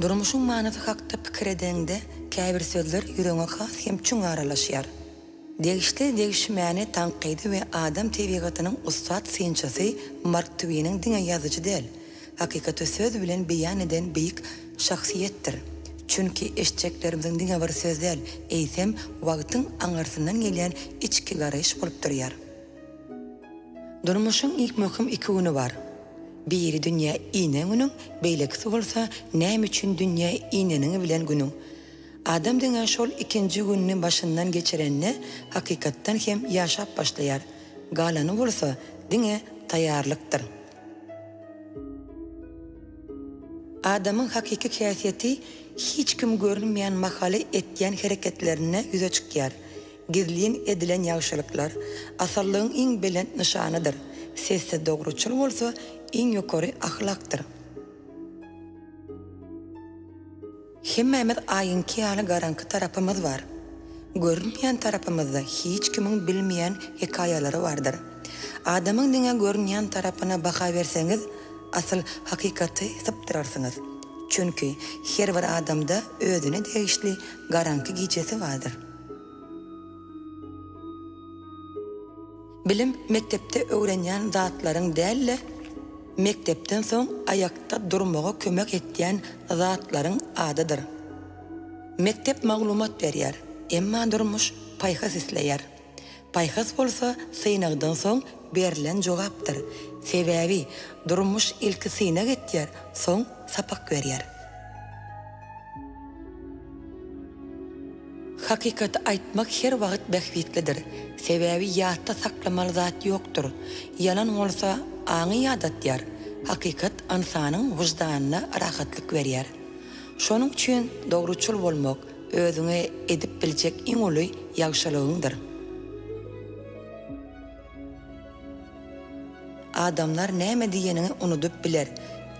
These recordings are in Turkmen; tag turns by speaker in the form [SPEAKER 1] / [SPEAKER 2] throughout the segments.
[SPEAKER 1] Durmuşyň manysy hakda pikir edeňde, käbir sözler ýüregiňe has hem çuň aralaşýar. Degişli degişmäni tankydy we adam tebigatynyň ussat synçysy Mark Twiniň diňe ýazyjy däl, hakykaty söz bilen beýan eden beýik şahsyýetdir. Çünki eşitjeklerimiziň diňe bir söz däl, eýsem, wagtyň aňyrsyndan gelýän içki garaýyş bolup durýar. Durmuşyň ilk möhüm iki güni bar. Biri dünýä inen günüň, beýlekisi bolsa näme üçin dünýä ineniňi bilen günüň. Adam diňe şol ikinji gününi başyndan geçirende hakykatdan hem ýaşap başlaýar. Galany bolsa diňe taýýarlykdyr. Adamyň hakyky häsiýeti hiç kim görünmeýän mahaly etýän hereketlerinde ýüze çykýar. Gizlin edilen ýagşylyklar asyllygyň iň belent nyşanydyr, sessiz dogruçyl bolsa iň ýokary ahlakdyr. Hemmämiz aýyňky ýaly garaňky tarapymyz bar. Görünmeýän tarapymyzda hiç kimiň bilmeýän hekaýalary bardyr. Adamyň diňe görünýän tarapyna baha berseňiz, asyl hakykaty sypdyrarsyňyz. Çünki her bir adamda özüne degişli garaňky gijesi bardyr. Bilim mekdepde öwrenýän zatlaryň däl-de, mekdepden soň aýakda durmaga kömek etýän zatlaryň adydyr. Mekdep maglumat berýär, emma durmuş paýhas isleýär. Paýhas bolsa synagdan soň berlen jogapdyr. Sebäbi durmuş ilki synag etýär, soň sapak berýär. Hakykaty aýtmak her wagt bähbitlidir. Sebäbi ýatda saklamaly zat ýokdur. Ýalan bolsa aňy ýadatýar. Hakykat ynsanyň wyždanyna rahatlyk berýär. Şonuň üçin dogruçyl bolmak, Özüňe edip biljek iň uly ýagşylygyňdyr. Adamlar näme diýeniňi unudyp biler,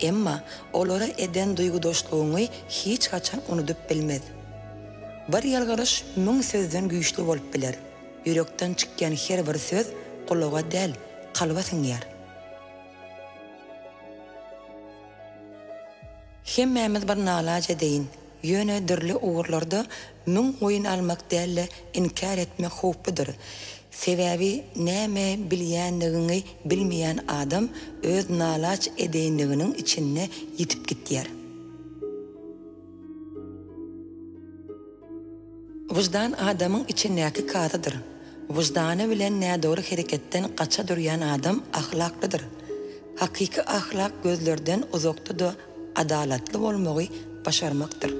[SPEAKER 1] emma olara eden duýgudaşlygyňy hiç haçan unudyp bilmez. Bir ýalňyryş müň sözden güýçli bolup biler. Ýürekden çykýan her bir söz gulaga däl, kalba siňýär. Hemmämiz bir nalaç edeýin, ýöne dürli ugurlarda müň goýun almak däl-de inkär etmek howpludyr. Sebäbi näme bilýänligiňi bilmeýän adam öz nalaç edeýinliginiň içinde ýitip gitýär. Wyždan adamyň içindäki kazydyr. Wyždany bilen nädogry hereketden gaça durýan adam ahlaklydyr. Hakyky ahlak gözlerden uzakda-da adalatly bolmagy başarmakdyr.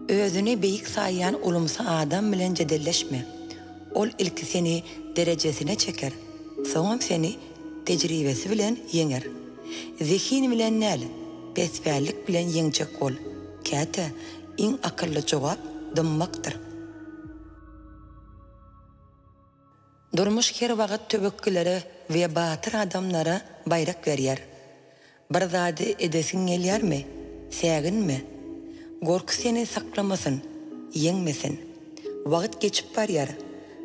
[SPEAKER 1] Özüni beýik saýýan ulumsy adam bilen jedelleşme. Ol ilki seni derejesine çeker, soňam seni Tejribesi bilen ýeňer. Zehini bilen däl, pesbällik bilen ýeňjek bol. Käte iň akylly jogap dymmakdyr. Durmuş her wagt töwekgilere we batyr adamlara baýrak berýär. Bir zady edesiň gelýärmi? Säginme! Gorky seni saklamasyn, ýeňmesin. Wagt geçip barýar,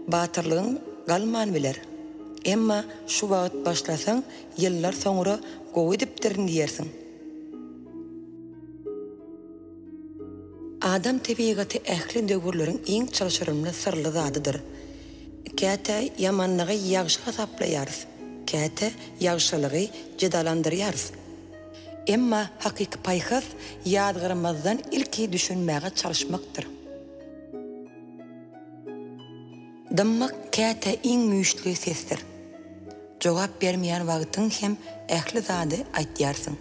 [SPEAKER 1] batyrlygyň galman biler. Emma şu wagt başlasaň, ýyllar soňra gowy edipdirin diýersiň. Adam tebigaty ähli döwürleriň iň çylşyrymly syrly zadydyr. Käte ýamanlygy ýagşy hasaplaýarys, käte ýagşylygy jedalandyrýarys. Emma hakyky paýhas ýazgarymyzdan ilki düşünmäge çalyşmakdyr. Dymmak käte iň güýçli sesdir. Jogap bermeýän wagtyň hem ähli zady aýtýarsyň.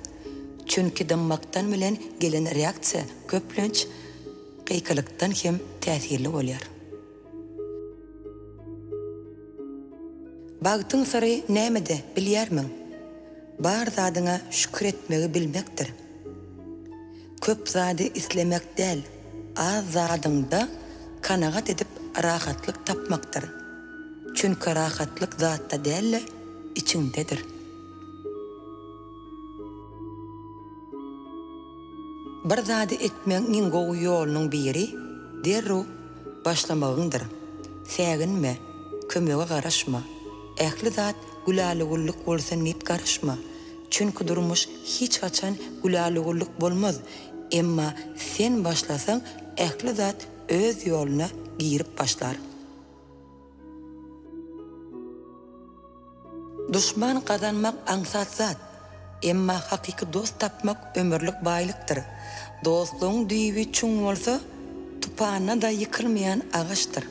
[SPEAKER 1] Çünki dymmakdan bilen gelen reaksiýa köplenç gykylykdan hem täsirli bolýar. Bagtyň syry nämede, bilýärmiň? Bar zadyňa şükür etmegi bilmekdir. Köp zady islemek däl, az zadyňda kanagat edip rahatlyk tapmakdyr. Çünki rahatlyk zatda däl-de, içiňdedir. Bir zady etmegiň iň gowy ýolunyň biri derrew başlamagyňdyr. Säginme, kömege garaşma. Ähli zat güläligulluk bolsun diýip garaşma. Çünki durmuş hiç haçan güläligulluk bolmaz. Emma sen başlasaň ähli zat öz ýoluna girip başlar. Duşman gazanmak aňsat zat, emma hakyky dost tapmak ömürlik baýlykdyr. Dostlugyň düýbi çuň bolsa, tupanda-da ýykylmaýan agaçdyr.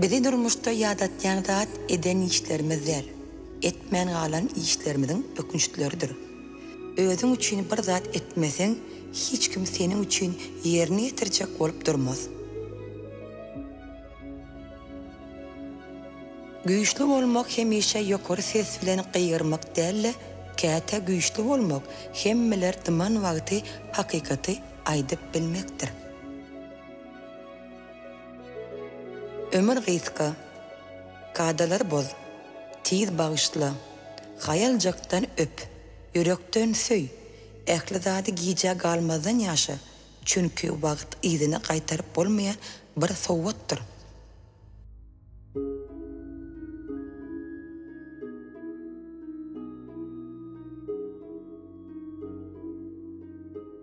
[SPEAKER 1] Bizi durmuşda ýadatýan zat eden işlerimiz däl, etmän galan işlerimiziň ökünçleridir. Özüň üçin bir zat etmeseň, hiç kim seniň üçin ýerini ýetirjek bolup durmaz. Güýçli bolmak hemişe ýokary ses bilen gygyrmak däl-de, käte güýçli bolmak hemmeler dyman wagty hakykaty aýdyp bilmekdir. Ömür gysga. Kadalar boz. Tiz bagyşla. Haýaljakdan öp, ýürekden söý, ähli zady gijä galmazdan ýaşa, çünki wagt yzyna gaýtaryp bolmaýan bir sowgatdyr.